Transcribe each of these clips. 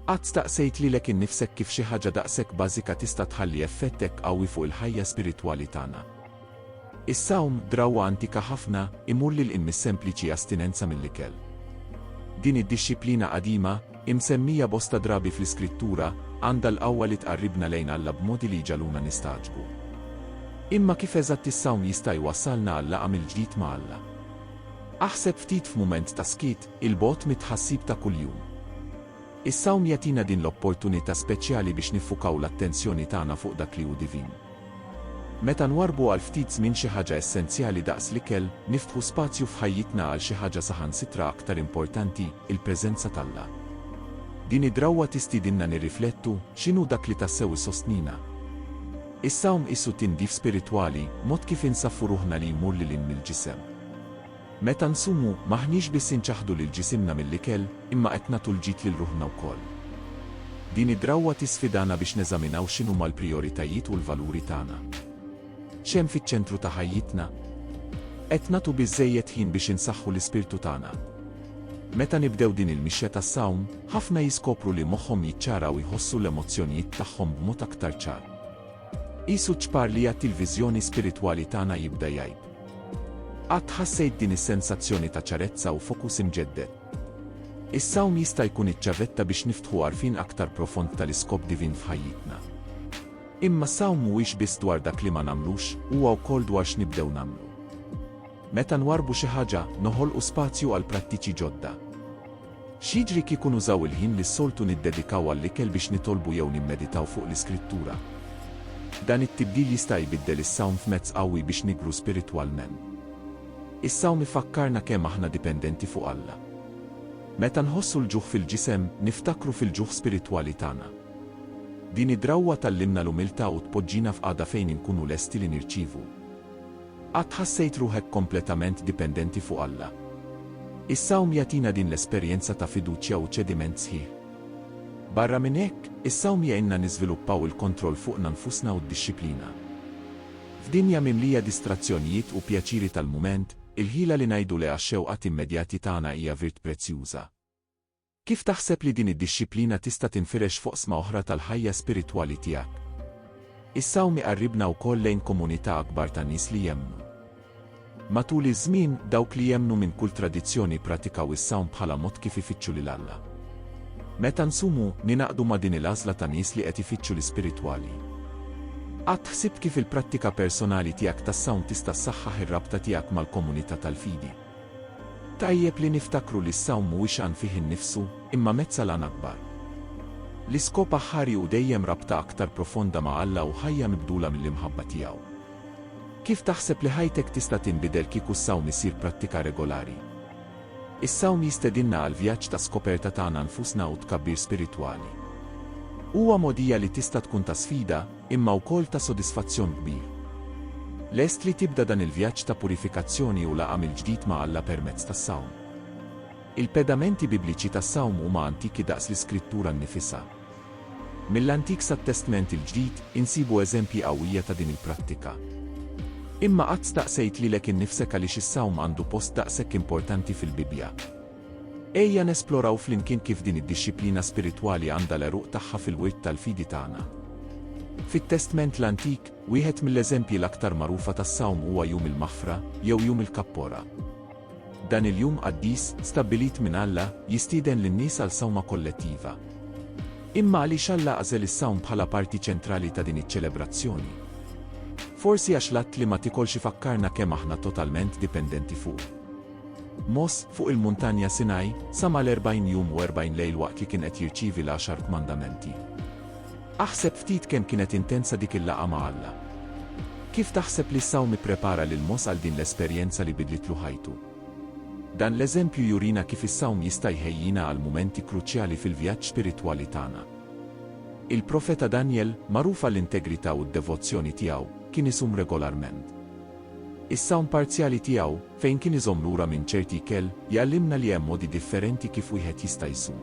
Qatt staqsejt lilek innifsek kif xi ħaġa daqshekk bażika tista' tħalli effett hekk qawwi fuq il-ħajja spiritwali tagħna? Is-sawm, drawwa antika ħafna, imur lil hinn mis-sempliċi astinenza mill-ikel. Din id-dixxiplina qadima, imsemmija bosta drabi fl-Iskrittura, għandha l-qawwa li tqarribna lejn Alla b'modi li jġagħluna nistagħġbu. Imma kif eżatt is-sawm jista' jwassalna għal laqgħa mill-ġdid ma' Alla? Aħseb ftit f'mument ta' skiet, 'il bogħod mit-tħassib ta' kuljum. Is-sawm jagħtina din l-opportunità speċjali biex niffukaw l-attenzjoni tagħna fuq dak li hu divin. Meta nwarrbu għal ftit żmien xi ħaġa essenzjali daqs l-ikel, niftħu spazju f'ħajjitna għal xi ħaġa saħansitra aktar importanti, il-preżenza t'Alla. Din id-drawwa tistiedinna nirriflettu, x'inhu dak li tassew isostnina? Is-sawm qisu tindif spiritwali, mod kif insaffu ruħna li jmur lil hinn mill-ġisem. Meta nsumu, m'aħniex biss inċaħħdu lil ġisimna mill-ikel, imma qed nagħtu l-ġid lil ruħna wkoll. Din id-drawwa tisfidana biex neżaminaw x'inhuma l-prijoritajiet u l-valuri tagħna. X'hemm fiċ-ċentru ta' ħajjitna? Qed nagħtu biżżejjed ħin biex insaħħu l-ispirtu tagħna? Meta nibdew din il-mixja tas-sawm, ħafna jiskopru li moħħhom jiċċara u jħossu l-emozzjonijiet tagħhom b'mod aktar ċar. Qisu ċ-ċpar li jagħti l-viżjoni spiritwali tagħna jibda jgħib. Qatt ħassejt din is-sensazzjoni ta' ċarezza u fokus imġedded? Is-sawm jista' jkun iċ-ċavetta biex niftħu għarfien aktar profond tal-iskop divin f'ħajjitna. Imma s-sawm mhuwiex biss dwar dak li ma nagħmlux, huwa wkoll dwar x'nibdew nagħmlu. Meta nwarrbu xi ħaġa, noħolqu spazju għal prattiċi ġodda. X'jiġri kieku nużaw il-ħin li s-soltu niddedikaw għall-ikel biex nitolbu jew nimmeditaw fuq l-Iskrittura? Dan it-tibdil jista' jbiddel is-sawm f'mezz qawwi biex nikbru spiritwalment. Is-sawm ifakkarna kemm aħna dipendenti fuq Alla. Meta nħossu l-ġuħ fil-ġisem, niftakru fil-ġuħ spiritwali tagħna. Din id-drawwa tgħallimna l-umiltà u tpoġġina f'qagħda fejn inkunu lesti li nirċievu. Qatt ħassejt ruħek kompletament dipendenti fuq Alla? Is-sawm jagħtina din l-esperjenza ta' fiduċja u ċediment sħiħ. Barra minn hekk, is-sawm jgħinna niżviluppaw il-kontroll fuqna nfusna u d-dixxiplina. F'dinja mimlija distrazzjonijiet u pjaċiri tal-mument, il-ħila li ngħidu le għax-xewqat immedjati tagħna hija virt prezzjuża. Kif taħseb li din id-dixxiplina tista' tinfirex f'oqsma oħra tal-ħajja spiritwali tiegħek? Is-sawm iqarribna wkoll lejn komunità akbar ta' nies li jemmnu. Matul iż-żmien, dawk li jemmnu minn kull tradizzjoni ppratikaw is-sawm bħala mod kif ifittxu lil Alla. Meta nsumu, ningħaqdu ma' din il-għażla ta' nies li qed ifittxu l-ispiritwali. Qatt ħsibt kif il-prattika personali tiegħek tas-sawm tista' ssaħħaħ ir-rabta tiegħek mal-komunità tal-fidi? Tajjeb li niftakru li s-sawm mhuwiex għan fih innifsu, imma mezz għal għan akbar. L-iskop aħħari hu dejjem rabta aktar profonda ma' Alla u ħajja mibdula mill-imħabba tiegħu. Kif taħseb li ħajtek tista' tinbidel kieku s-sawm isir prattika regolari? Is-sawm jistedinna għal vjaġġ ta' skoperta tagħna nfusna u tkabbir spiritwali. Huwa mogħdija li tista' tkun ta' sfida, imma wkoll ta' sodisfazzjon kbir. Lest li tibda dan il-vjaġġ ta' purifikazzjoni u laqgħa mill-ġdid ma' Alla permezz tas-sawm? Il-pedamenti Bibliċi tas-sawm huma antiki daqs l-Iskrittura nnifisha. Mill-Antik sat-Testment il-Ġdid, insibu eżempji qawwija ta' din il-prattika. Imma qatt staqsejt lilek innifsek għaliex is-sawm għandu post daqshekk importanti fil-Bibbja? Ejja nesploraw flimkien kif din id-dixxiplina spiritwali għandha l-għeruq tagħha fil-wirt tal-fidi tagħna. Fit-Testment l-Antik, wieħed mill-eżempji l-aktar magħrufa tas-sawm huwa Jum il-Maħfra, jew Jum il-Kappora. Dan il-jum qaddis, stabbilit minn Alla, jistieden lin-nies għal sawma kollettiva. Imma għaliex Alla għażel is-sawm bħala parti ċentrali ta' din iċ-ċelebrazzjoni? Forsi għax l-att li ma tikolx ifakkarna kemm aħna totalment dipendenti fuqu. Mosè, fuq il-Muntanja Sinaj, sama l-erbgħin jum u erbgħin lejl waqt li kien qed jirċievi l-Għaxar Kmandamenti. Aħseb ftit kemm kienet intensa dik il-laqgħa ma' Alla! Kif taħseb li s-sawm ipprepara lil Mosè għal din l-esperjenza li bidlitlu ħajtu? Dan l-eżempju jurina kif is-sawm jista' jħejjina għal mumenti kruċjali fil-vjaġġ spiritwali tagħna. Il-profeta Danjel, magħruf għall-integrità u d-devozzjoni tiegħu, kien isum regolarment. Is-sawm parzjali tiegħu, fejn kien iżomm lura minn ċerti ikel, jgħallimna li hemm modi differenti kif wieħed jista' jsum.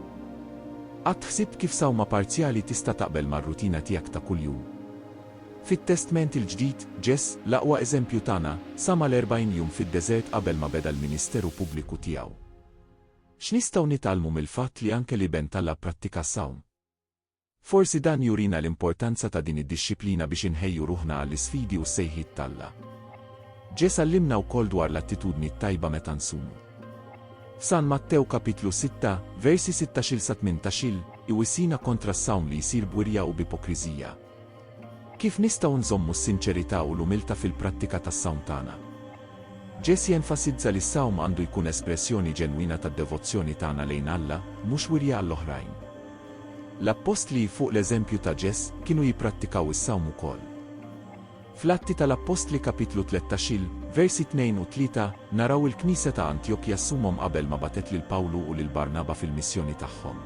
Qatt ħsibt kif sawma parzjali tista' taqbel mar-rutina tiegħek ta' kuljum? Fit-Testment il-Ġdid, Ġess, l-aqwa eżempju tagħna, sam għal erbgħin jum fid-deżert qabel ma beda l-ministeru pubbliku tiegħu. X'nistgħu nitgħallmu mill-fatt li anke l-Iben t'Alla pprattika s-sawm? Forsi dan jurina l-importanza ta' din id-dixxiplina biex inħejju ruħna għall-isfidi u s-sejħiet t'Alla. Ġesù għallimna wkoll dwar l-attitudni t-tajba meta nsumu. F'San Mattew kapitlu 6, versi 16-18, iwissina kontra s-sawm li jsir b'wirja u b'ipokriżija. Kif nistgħu nżommu s-sinċerità u l-umiltà fil-prattika tas-sawm tagħna? Ġesì enfasizza li s-sawm għandu jkun espressjoni ġenwina tad-devozzjoni tagħna lejn Alla, mhux wirja għall-oħrajn. L-appostli, fuq l-eżempju ta' Ġes, kienu jipprattikaw is-sawm ukoll. Fl-Atti tal-Appostli Kapitlu tlettax il, versi tnejn u tlieta, naraw il-Knisja ta' Antjokja ssumhom qabel ma bagħtet lil Pawlu u lil Barnaba fil-missjoni tagħhom.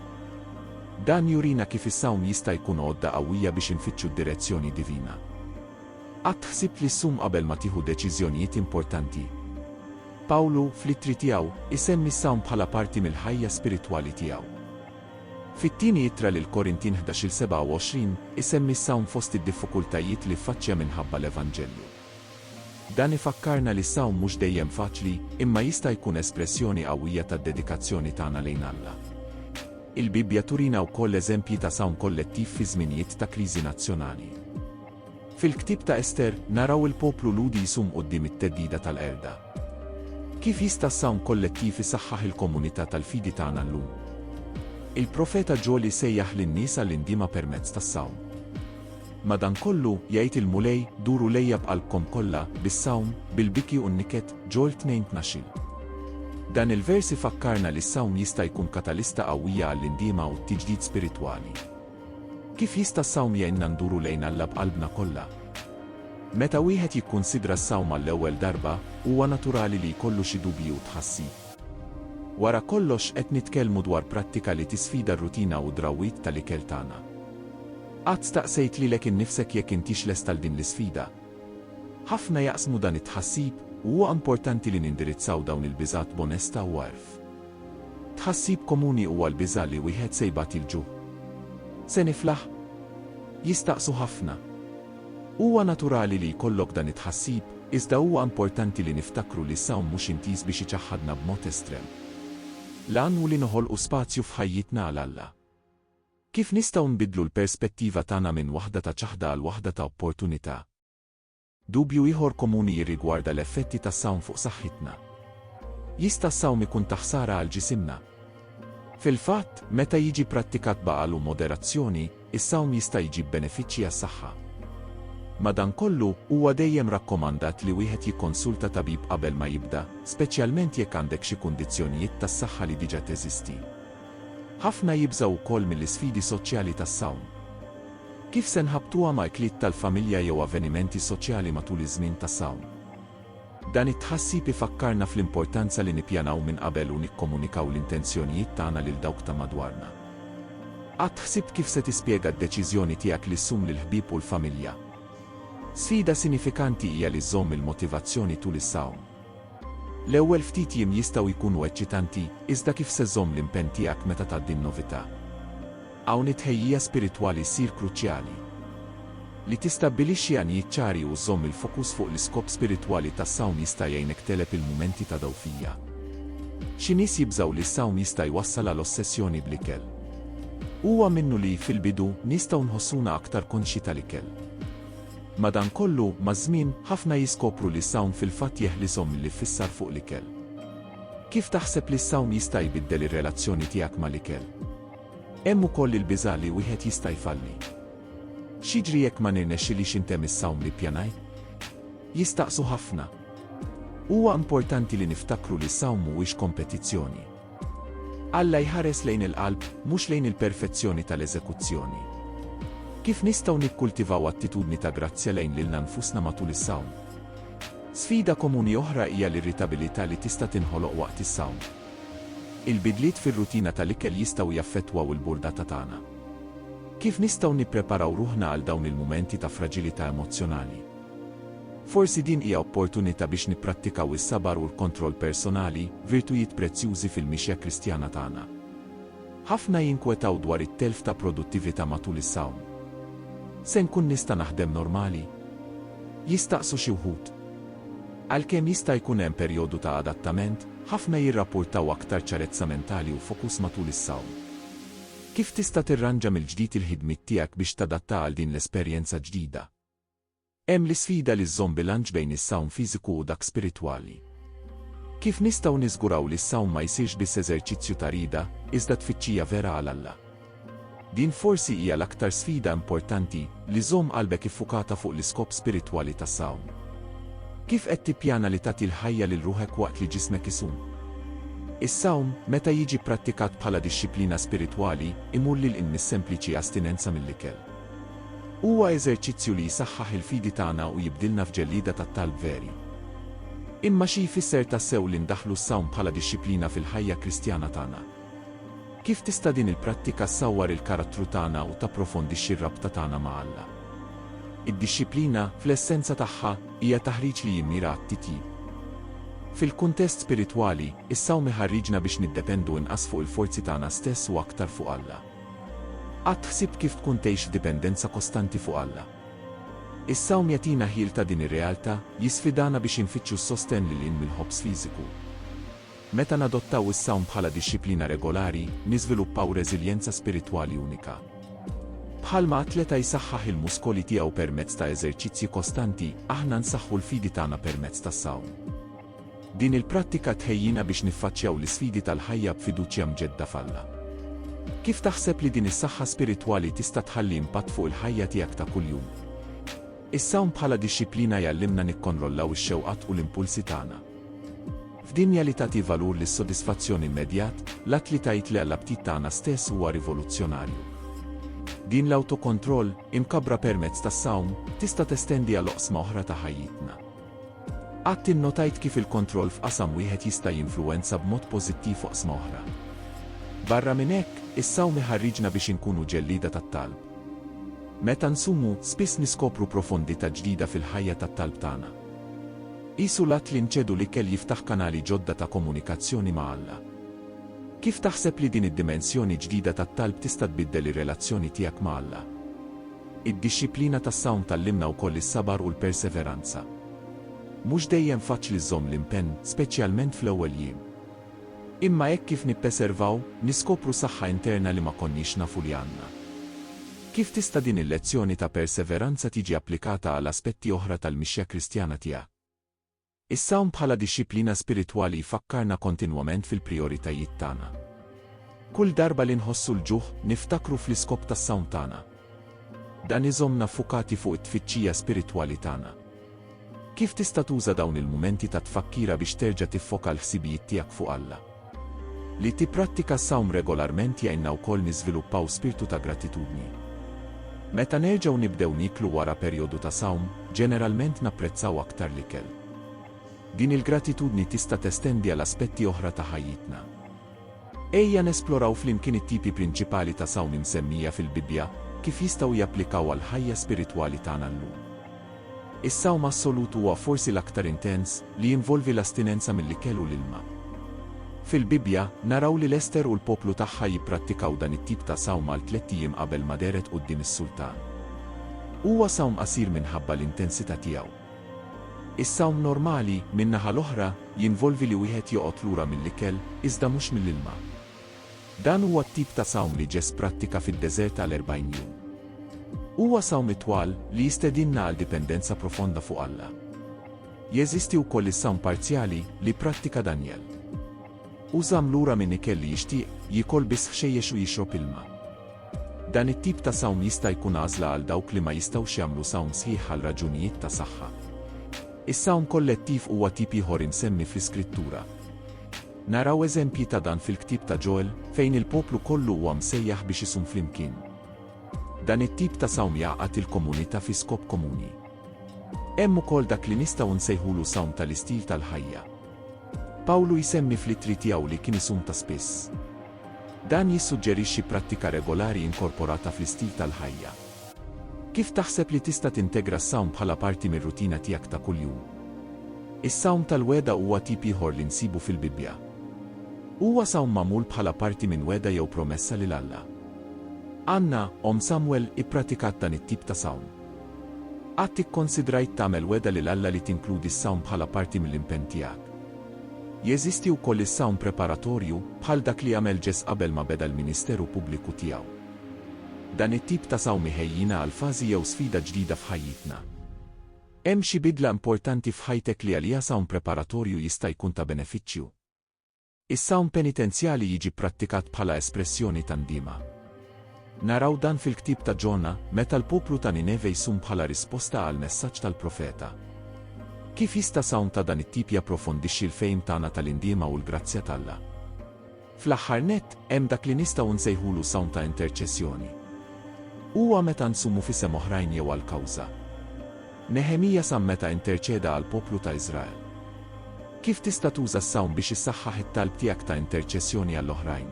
Dan jurina kif is-sawm jista' jkun għodda qawwija biex infittxu d-direzzjoni divina. Qatt ħsibt li ssum qabel ma tieħu deċiżjonijiet importanti? Pawlu, fl-ittri tiegħu, isemmi s-sawm bħala parti mill-ħajja spiritwali tiegħu. Fit-Tieni Ittra lill-Korintin ħdax-il 27, isemmi s-sawm fost id-diffukultajiet li ffaċċja minħabba l-evanġelju. Dan ifakkarna li s-sawm mhux dejjem faċli, imma jista' jkun espressjoni qawwija tad-dedikazzjoni tagħna lejn Alla. Il-Bibbja turina wkoll eżempji ta' sawm kollettiv fi żminijiet ta' kriżi nazzjonali. Fil-ktieb ta' Ester, naraw il-poplu Lhudi jsum quddiem it-theddida tal-qerda. Kif jista' s-sawm kollettiv isaħħaħ il-komunità tal-fidi tagħna llum? Il-profeta Ġoli sejjaħ lin-nies għall-indiema permezz tas-sawm. Madankollu, jgħid il-Mulej, duru lejja b'qalbkom kollha, bis-sawm, bil-biki u n-niket, Ġol 2 tnax-il. Dan il-vers ifakkarna li s-sawm jista' jkun katalista qawwija għall-indiema u t-tiġdid spiritwali. Kif jista' s-sawm jgħinna nduru lejn Alla b'qalbna kollha? Meta wieħed jikkunsidra s-sawm għall-ewwel darba, huwa naturali li jkollu xi dubji u tħassib. Wara kollox qed nitkellmu dwar prattika li tisfida r-rutina u d-drawwiet tal-ikel tagħna. Qatt staqsejt lilek innifsek jekk intix lest għal din l-isfida? Ħafna jaqsmu dan it-tħassib u huwa importanti li nindirizzaw dawn il-biżgħat b'onestà u għerf. Tħassib komuni huwa l-biża' li wieħed se jbati l-ġuħ. Se niflaħ? Jistaqsu ħafna. Huwa naturali li jkollok dan it-tħassib, iżda huwa importanti li niftakru li s-sawm mhux intiż biex iċaħħadna b'mod estrem. L-għan hu li noħolqu spazju f'ħajjitna għal Alla. Kif nistgħu nbiddlu l-perspettiva tagħna minn waħda ta' ċaħda għal waħda ta' opportunità? Dubju ieħor komuni jirrigwarda l-effetti tas-sawm fuq saħħitna. Jista' s-sawm ikun ta' ħsara għal ġisimna? Fil-fatt, meta jiġi prattikat b'għaqal u moderazzjoni, is-sawm jista' jġib benefiċċji għas-saħħa. Madankollu, huwa dejjem rakkomandat li wieħed jikkonsulta tabib qabel ma jibda, speċjalment jekk għandek xi kundizzjonijiet tas-saħħa li diġà teżisti. Ħafna jibżgħu wkoll mill-isfidi soċjali tas-sawm. Kif se nħabbtuha ma' ikliet tal-familja jew avvenimenti soċjali matul iż-żmien ta' sawm? Dan it-tħassib ifakkarna fl-importanza li nippjanaw minn qabel u nikkomunikaw l-intenzjonijiet tagħna lil dawk ta' madwarna. Qatt ħsibt kif se tispjega d-deċiżjoni tiegħek li ssum lill-ħbieb u l-familja? Sfida sinifikanti hija li żżomm il-motivazzjoni tul is-sawm. L-ewwel ftit jiem jistgħu jkunu eċċitanti, iżda kif se żżomm l-impenn tiegħek meta tgħaddi n-novità? Hawn it-tħejjija spiritwali ssir kruċjali. Li tistabbilixxi għanijiet ċari u żżomm il-fokus fuq l-iskop spiritwali tas-sawm jista' jgħinek tegħleb il-mumenti ta' dgħufija. Xi nies jibżgħu li s-sawm jista' jwassal għal ossessjoni bl-ikel. Huwa minnu li, fil-bidu, nistgħu nħossuna aktar konxji tal-ikel. Madankollu, maż-żmien, ħafna jiskopru li s-sawm fil-fatt jeħlishom mill-iffissar fuq l-ikel. Kif taħseb li s-sawm jista' jbiddel ir-relazzjoni tiegħek mal-ikel? Hemm ukoll il-biża' li wieħed jista' jfalli. X'jiġri jekk ma nirnexxilix intemm is-sawm li ppjanajt? Jistaqsu ħafna. Huwa importanti li niftakru li s-sawm mhuwiex kompetizzjoni. Alla jħares lejn il-qalb, mhux lejn il-perfezzjoni tal-eżekuzzjoni. Kif nistgħu nikkultivaw attitudni ta' grazzja lejn lilna nfusna matul is-sawm? Sfida komuni oħra hija l-irritabilità li tista' tinħoloq waqt is-sawm. Il-bidliet fir-rutina tal-ikel jistgħu jaffettwaw il-burdata tagħna. Kif nistgħu nippreparaw ruħna għal dawn il-mumenti ta' fraġilità emozzjonali? Forsi din hija opportunità biex nipprattikaw is-sabar u l-kontroll personali, virtujiet prezzjużi fil-mixja Kristjana tagħna. Ħafna jinkwetaw dwar it-telf ta' produttività matul is-sawm. Se nkun nista' naħdem normali? jistaqsu xi wħud. Għalkemm jista' jkun hemm perjodu ta' adattament, ħafna jirrappurtaw aktar ċarezza mentali u fokus matul is-sawm. Kif tista' tirranġa mill-ġdid il-ħidmiet tiegħek biex tadatta għal din l-esperjenza ġdida? Hemm l-isfida li żżomm bilanċ bejn is-sawm fiżiku u dak spiritwali. Kif nistgħu niżguraw li s-sawm ma jsirx biss eżerċizzju ta' rieda, iżda tfittxija vera għal Alla? Din forsi hija l-aktar sfida importanti, li żżomm qalbek iffukata fuq l-iskop spiritwali tas-sawm. Kif qed tippjana li tagħti l-ħajja lil ruħek waqt li ġismek isum? Is-sawm, meta jiġi pprattikat bħala dixxiplina spiritwali, imur lil hinn mis-sempliċi astinenza mill-ikel. Huwa eżerċizzju li jsaħħaħ il-fidi tagħna u jibdilna f'ġellieda tat-talb veri. Imma xi jfisser tassew li ndaħħlu s-sawm bħala dixxiplina fil-ħajja Kristjana tagħna? Kif tista' din il-prattika ssawwar il-karattru tagħna u tapprofondixxi r-rabta tagħna ma' Alla? Id-dixxiplina, fl-essenza tagħha, hija taħriġ li jimmira għat-titjib. Fil-kuntest spiritwali, is-sawm iħarriġna biex niddependu inqas fuq il-forzi tagħna stess u aktar fuq Alla. Qatt ħsibt kif tkun tgħix f'dipendenza kostanti fuq Alla? Is-sawm jagħtina ħjiel ta' din ir-realtà, jisfidana biex infittxu s-sostenn lil hinn mill-ħobż fiżiku. Meta nadottaw is-sawm bħala dixxiplina regolari, niżviluppaw reżiljenza spiritwali unika. Bħalma atleta jsaħħaħ il-muskoli tiegħu permezz ta' eżerċizzji kostanti, aħna nsaħħu l-fidi tagħna permezz tas-sawm. Din il-prattika tħejjina biex niffaċċjaw l-isfidi tal-ħajja b'fiduċja mġedda f'Alla. Kif taħseb li din is-saħħa spiritwali tista' tħalli impatt fuq il-ħajja tiegħek ta' kuljum? Is-sawm bħala dixxiplina jgħallimna nikkonrollaw ix-xewqat u l-impulsi tagħna. F'dinja li tagħti valur lis-sodisfazzjon immedjat, l-att li tgħid le għall-aptit tagħna stess huwa rivoluzzjonarju. Din l-awtokontroll, imkabbra permezz tas-sawm, tista' testendi għal oqsma oħra ta' ħajjitna. Qatt innotajt kif il-kontroll f'qasam wieħed jista' jinfluwenza b'mod pożittiv oqsma oħra? Barra minn hekk, is-sawm iħarriġna biex inkunu ġellieda tat-talb. Meta nsumu, spiss niskopru profondità ġdida fil-ħajja tat-talb tagħna. Qisu l-att li nċedu l-ikel jiftaħ kanali ġodda ta' komunikazzjoni ma' Alla. Kif taħseb li din id-dimensjoni ġdida tat-talb tista' tbiddel ir-relazzjoni tiegħek ma' Alla? Id-dixxiplina tas-sawm tgħallimna wkoll is-sabar u l-perseveranza. Mhux dejjem faċli żżomm l-impenn, speċjalment fl-ewwel jiem. Imma hekk kif nippeservaw, niskopru saħħa interna li ma konniex nafu li għandna. Kif tista' din il-lezzjoni ta' perseveranza tiġi applikata għal aspetti oħra tal-mixja Kristjana tiegħek? Is-sawm bħala dixxiplina spiritwali jfakkarna kontinwament fil-prijoritajiet tagħna. Kull darba li nħossu l-ġuħ, niftakru fl-iskop tas-sawm tagħna. Dan iżommna ffukati fuq it-tfittxija spiritwali tagħna. Kif tista' tuża dawn il-mumenti ta' tfakkira biex terġa' tiffoka l-ħsibijiet tiegħek fuq Alla? Li tipprattika s-sawm regolarment jgħinna wkoll niżviluppaw spirtu ta' gratitudni. Meta nerġgħu nibdew nieklu wara perjodu ta' sawm, ġeneralment napprezzaw aktar l-ikel. Din il-gratitudni tista' testendi għal aspetti oħra ta' ħajjitna. Ejja nesploraw flimkien it-tipi prinċipali ta' sawm imsemmija fil-Bibbja, kif jistgħu japplikaw għall-ħajja spiritwali tagħna llum. Is-sawm assolut huwa forsi l-aktar intens, li jinvolvi l-astinenza mill-ikel u l-ilma. Fil-Bibbja, naraw lil Ester u l-poplu tagħha jipprattikaw dan it-tip ta' sawm għal tlett ijiem qabel ma dehret quddiem is-sultan. Huwa sawm qasir minħabba l-intensità tiegħu. Is-sawm normali, min-naħa l-oħra, jinvolvi li wieħed joqgħod lura mill-ikel, iżda mhux mill-ilma. Dan huwa t-tip ta' sawm li Ġeż pprattika fid-deżert għal erbgħin jum. Huwa sawm itwal, li jistedinna għal dipendenza profonda fuq Alla. Jeżisti wkoll is-sawm parzjali, li pprattika Danjel. Hu żamm lura minn ikel li jixtieq, jiekol biss ħxejjex u jixrob ilma. Dan it-tip ta' sawm jista' jkun għażla għal dawk li ma jistgħux jagħmlu sawm sħiħ għal raġunijiet ta' saħħa. Is-sawm kollettiv huwa tip ieħor imsemmi fl-Iskrittura. Naraw eżempji ta' dan fil-ktieb ta' Ġoel, fejn il-poplu kollu huwa msejjaħ biex isum flimkien. Dan it-tip ta' sawm jgħaqqad il-komunità fi skop komuni. Hemm ukoll dak li nistgħu nsejħulu sawm tal-istil tal-ħajja. Pawlu jsemmi fl-ittri tiegħu li kien isum ta' spiss. Dan jissuġġerixxi prattika regolari inkorporata fl-istil tal-ħajja. Kif taħseb li tista' tintegra s-sawm bħala parti mir-rutina tiegħek ta' kuljum? Is-sawm tal-wegħda huwa tip ieħor li nsibu fil-Bibbja. Huwa sawm magħmul bħala parti minn wegħda jew promessa lil Alla. Anna, omm Samwel, ippratikat dan it-tip ta' sawm. Qatt ikkonsidrajt tagħmel wegħda lil Alla li tinkludi s-sawm bħala parti mill-impenn tiegħek? Jeżisti wkoll is-sawm preparatorju, bħal dak li għamel Ġess qabel ma beda l-ministeru pubbliku tiegħu. Dan it-tip ta' sawm iħejjina għal fażi jew sfida ġdida f'ħajjitna. Hemm xi bidla importanti f'ħajtek li għaliha sawm preparatorju jista' jkun ta' benefiċċju? Is-sawm penitenzjali jiġi pprattikat bħala espressjoni ta' ndiema. Naraw dan fil-ktieb ta' Ġona, meta l-poplu ta' Nineve jsum bħala risposta għall-messaġġ tal-profeta. Kif jista' sawm ta' dan it-tip japprofondixxi l-fehim tagħna tal-indiema u l-grazzja t'Alla? Fl-aħħar nett, hemm dak li nistgħu nsejħulu sawm ta' interċessjoni. Huwa meta nsumu f'isem oħrajn jew għal kawża. Neħemija sam meta interċeda għall-poplu ta' Iżrael. Kif tista' tuża s-sawm biex issaħħaħ it-talb tiegħek ta' interċessjoni għall-oħrajn?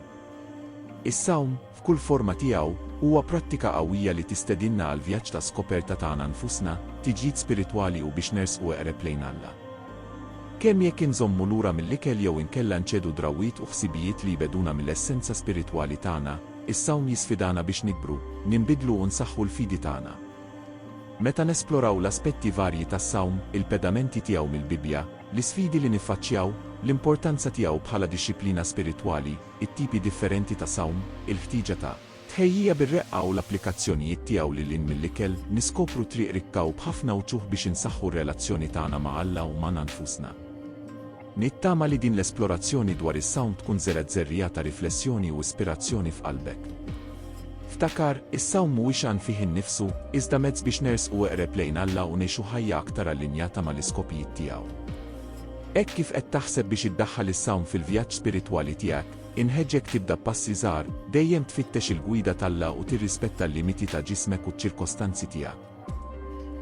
Is-sawm, F'kull forma tiegħu, huwa prattika qawwija li tistedinna għall-vjaġġ ta' skoperta tagħna nfusna, tiġdid spiritwali u biex nersqu eqreb lejn Alla. Kemm jekk inżommu lura mill-ikel jew inkella nċedu drawwiet u ħsibijiet li jbegħduna mill-essenza spiritwali tagħna, is-sawm jisfidana biex nikbru, ninbidlu u nsaħħu l-fidi tagħna. Meta nesploraw l-aspetti varji tas-sawm, il-pedamenti tiegħu mill-Bibbja, l-isfidi li niffaċċjaw, l-importanza tiegħu bħala dixxiplina spiritwali, it-tipi differenti ta' sawm, il-ħtieġa ta'. Tħejjija bir-reqqa u l-applikazzjonijiet tiegħu lil hinn mill-ikel, niskopru triq rikka u b'ħafna uċuħ biex insaħħu r-relazzjoni tagħna ma' Alla u magħna nfusna. Nittama li din l-esplorazzjoni dwar is-sawm tkun żergħet żerriegħa ta' riflessjoni u ispirazzjoni f'qalbek. Ftakar, is-sawm mhuwiex għan fih innifsu, iżda mezz biex nersqu eqreb lejn Alla u ngħixu ħajja aktar allinjata mal-iskopijiet tiegħu. Hekk kif qed taħseb biex iddaħħal is-sawm fil-vjaġġ spiritwali tiegħek, inħeġġek tibda b'passi żgħar, dejjem tfittex il-gwida t'Alla u tirrispetta l-limiti ta' ġismek u ċ-ċirkostanzi tiegħek.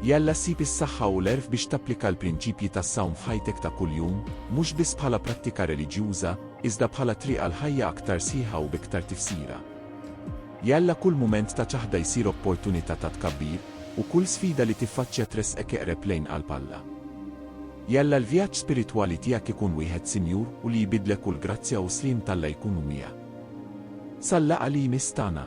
Jalla ssib is-saħħa u l-għerf biex tapplika l-prinċipji tas-sawm f'ħajtek ta' kuljum, mhux biss bħala prattika reliġjuża, iżda bħala triq għal ħajja aktar sħiħa u b'iktar tifsira. Jalla kull mument ta' ċaħda jsir opportunità ta' tkabbir, u kull sfida li tiffaċċja tressqek eqreb lejn qalb Alla. Jalla l-vjaġġ spiritwali tiegħek ikun wieħed sinjur u li jbiddlek u l-grazzja u s-sliem t'Alla jkunu miegħek. Sal-laqgħa li jmiss tagħna.